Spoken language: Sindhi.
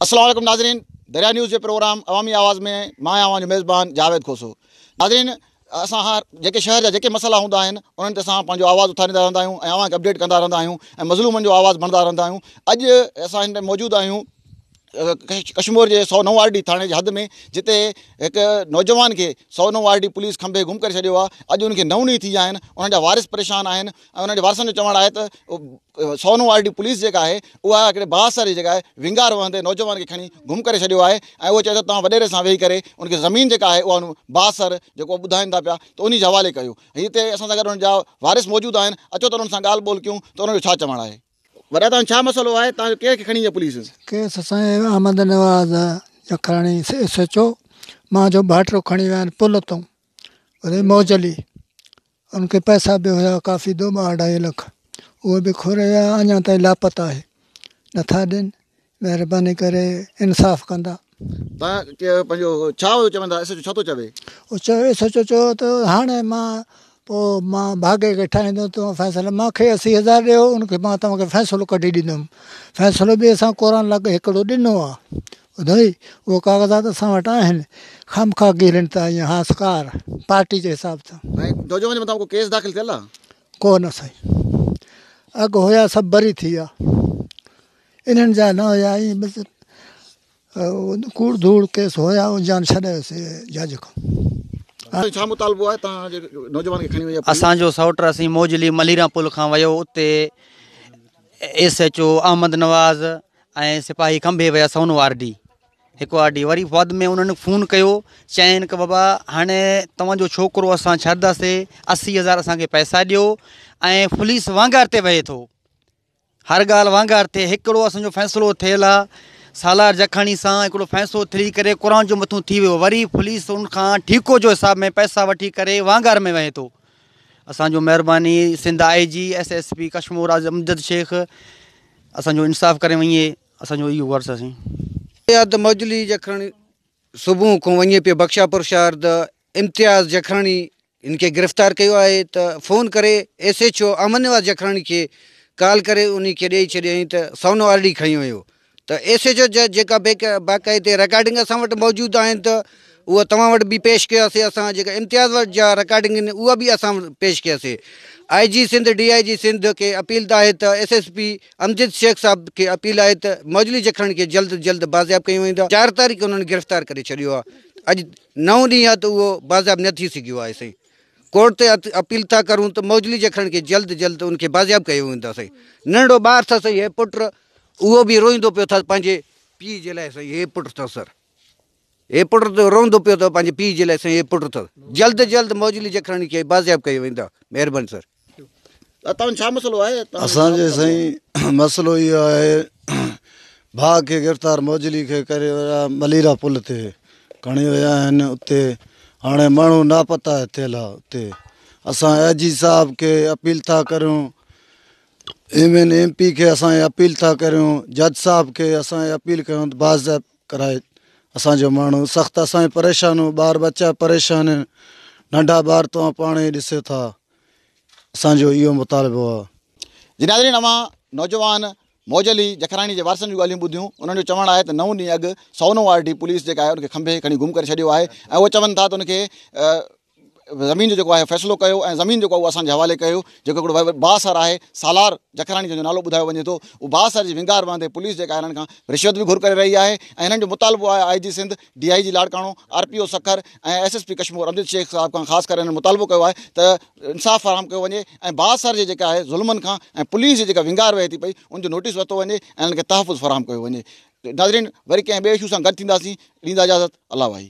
السلام عليڪم ناظرين دريا نيوز جي پروگرام عوامي آواز ۾ مان آهيان اوهان جو ميزبان جاويد کوسو ناظرين اسان هر جيڪي شهر جا جيڪي مسئلا هوندا آهن انهن تي اسان پنهنجو آواز اٿاريندا رهندا آهيون ۽ اوهان کي اپڊيٽ ڪندا رهندا آهيون ۽ مظلومن جو آواز بڻدا رهندا آهيون اڄ اسان هن موجود آهيون ڪشمور جي سو نو آر ڊي ٿاڻي جي حد ۾ جتي هڪ نوجوان کي Sono R D police کمبي گم ڪري ڇڏيو آهي اڄ ان کي نو ڏينهن ٿي ويا آهن ان جا وارث پريشان آهن ۽ ان جي وارثن جو چوڻ آهي ته سونو آر ڊي پوليس جيڪا آهي اها هڪڙي بااثر جيڪا آهي وينگار وهندي نوجوان کي کڻي گم ڪري ڇڏيو آهي ۽ اهو چئي ٿو توهان وڏيري سان ويهي ڪري ان کي زمين جيڪا آهي اها بااثر جيڪو ٻڌائيندا پيا ته انهي جي حوالي ڪيو هتي اسان سان گڏ انهن جا وارث موجود آهن اچو ته انهن سان ڳالهه ٻولهه ڪيون ته انهن جو ڇا چوڻ آهي. وڏا توهان ڇا مسئلو آهي توهان جو ڪير کي کڻي ويئي پوليس. کيس سائين Ahmed Nawaz Jakhrani S H O مان جو ڀائٽرو کڻي ويا آهن پل تون ريموجلي ان کي پئسا به هيا ڪافي دو ٻه اڍائي لک اهي به کور ويا اڃا تائين لاپتا آهي نٿا ڏين مهرباني ڪري انصاف ڪندا. تان ڪي پنهنجو ڇا هو چوندا ايس ايچ او ڇا ٿو چوي. او چيو ايس ايچ او چيو ته هاڻي مان پو مان ڀاڳي کي ٺاهيندو تو فيصل مان کي اسي هزار ڏيو ان کي مان توهان کي فيصلو ڪڍي ڏيندم فيصلو به اسان ڪوران لڳ هڪڙو ڏنو آ ٻڌوئي اهي ڪاغذات اسان وٽ آهن خامخواه گهرين ته ائين هاسڪار پارٽي جي حساب سان. سائين جوجو جي مٿان ڪو ڪيس داخل ٿيل آ. ڪو نه سائين اڳ هيا سڀ بري ٿي ويا انهن جا نه هيا ائين بس ڪوڙ ڌوڙ ڪيس هيا ان جا ڇڏيس جج کان. سائين ڇا مطالبو آهي تان جي نوجوان کي کڻي وئي آ پوليس. اسان جو سئوٽ رحيم موجلي مليران پل کان ويو اتي S H O Ahmed Nawaz ۽ سپاهي کنڀي ويا سونو آر ڊي هڪ آر ڊي وري بعد ۾ انهن فون ڪيو چين ڪه بابا هاڻي توهان جو ڇوڪرو اسان ڇڏنداسي اسي هزار اسان کي پئسا ڏيو ۽ پوليس وانگار تي وهي ٿو هر ڳالهه وانگار تي هڪڙو اسان جو فيصلو ٿيل آ سالار جکاڻي سان هڪڙو فيصلو ٿي ڪري قرآن جو مٿون ٿي ويو وري پوليس ان کان ٺيڪو جو حساب ۾ پئسا وٺي ڪري وانگار ۾ وهي ٿو اسان جو مهرباني Sindh I G S S P Kashmore آز امجد شيخ اسان جو انصاف ڪري وڃي اسان جو اهو غرض اسين سيد مجلي جکرڻي صبح کان وڃي پيو بخشاپور شهر ته امتياز جکرڻي ان کي گرفتار ڪيو آهي ته فون ڪري S H O Ahmed Nawaz Jakhrani کي ڪال ڪري انهي کي ڏئي ڇڏيائين ته سونو آر ڊي کڻي ويو ته ايس ايچ او جا جيڪا باقاعدي رڪارڊنگ اسان وٽ موجود آهن ته اها توهان وٽ به پيش ڪياسي اسان جيڪا امتياز وٽ جا رڪارڊنگ آهن اها به اسان وٽ پيش ڪياسي آء G Sindh D I G Sindh کي اپيل ته آهي ته S S P Amjad Shaikh صاحب کي اپيل آهي ته موجلي جکرڻ کي جلد جلد بازياب ڪيو ويندا چار تاريخ انهن گرفتار ڪري ڇڏيو آهي اڄ نو ڏينهن آهي ته اهو بازياب نه ٿي سگهيو آهي سائين ڪورٽ تي اپيل ٿا ڪرون ته موجلي جکرڻ کي جلد جلد ان کي بازياب ڪيو ويندو سائين ننڍڙو ٻار اٿس هي پٽ اهو به روئيندو پيو ٿس پنهنجي پيء جي لاء سائين هي پٽ ٿس سر هي پٽ ته روئندو پيو ٿو پنهنجي پيء جي لاء سائين هي پٽ ٿس جلد جلد موجلي جکراڻي کي بازياب ڪيو ويندا مهرباني سر توهان جو ڇا مسئلو آهي اسان جو سائين مسئلو اهو آهي ڀاء کي گرفتار موجلي کي ڪري ويا مليرا پل تي کڻي ويا آهن اتي هاڻي ماڻهو ناپتا ٿيل آهي اتي اسان اي جي صاحب کي اپيل ٿا ڪريون ايم اين ايم پي کي اسان اھي اپيل ٿا ڪريون جج صاحب کي اسان اھي اپيل ڪريون ته باضاب ڪرائي اسان جو ماڻھو سخت اسان جي پريشان ھو ٻار ٻچا پريشان ھين ننڍا ٻار توھان پاڻ ئي ڏسيو ٿا اسان جو اھو مطالبو آ. جي ناظرين اوھان نوجوان موج علي جکراڻي جي وارثن جون ڳالھيون ٻڌيون انھن جو چوڻ آھي ته نو ڏينهن اڳ سونو آر ڊي پوليس جيڪا آھي ان کي کنڀي ھي کڻي گم ڪري ڇڏيو آھي ۽ اھو چون ٿا ته ان کي زمين جو جيڪو آهي فيصلو ڪيو ۽ زمين جيڪو آهي اهو اسان جي حوالي ڪيو جيڪو هڪڙو وڏو بااثر آهي سالار جکراڻي جنهن جو نالو ٻڌايو وڃي ٿو اهو بااثر جي ونگار وهندي پوليس جيڪا هنن کان رشوت به گهر ڪري رهي آهي ۽ هنن جو مطالبو آهي I G Sindh D I G Larkana R P O Sukkur ۽ S S P Kashmore Amjad Shaikh صاحب کان خاص ڪري هنن مطالبو ڪيو آهي ته انصاف فراهم ڪيو وڃي ۽ بااثر جي جيڪا آهي ظلمن کان ۽ پوليس جي جيڪا ونگار وهي ٿي پئي ان جو نوٽيس ورتو وڃي ۽ هنن کي تحفظ فراهم ڪيو وڃي ناظرين وري ڪنهن ٻئي اشو سان گڏ ٿينداسين ڏيندا اجازت الله واهي.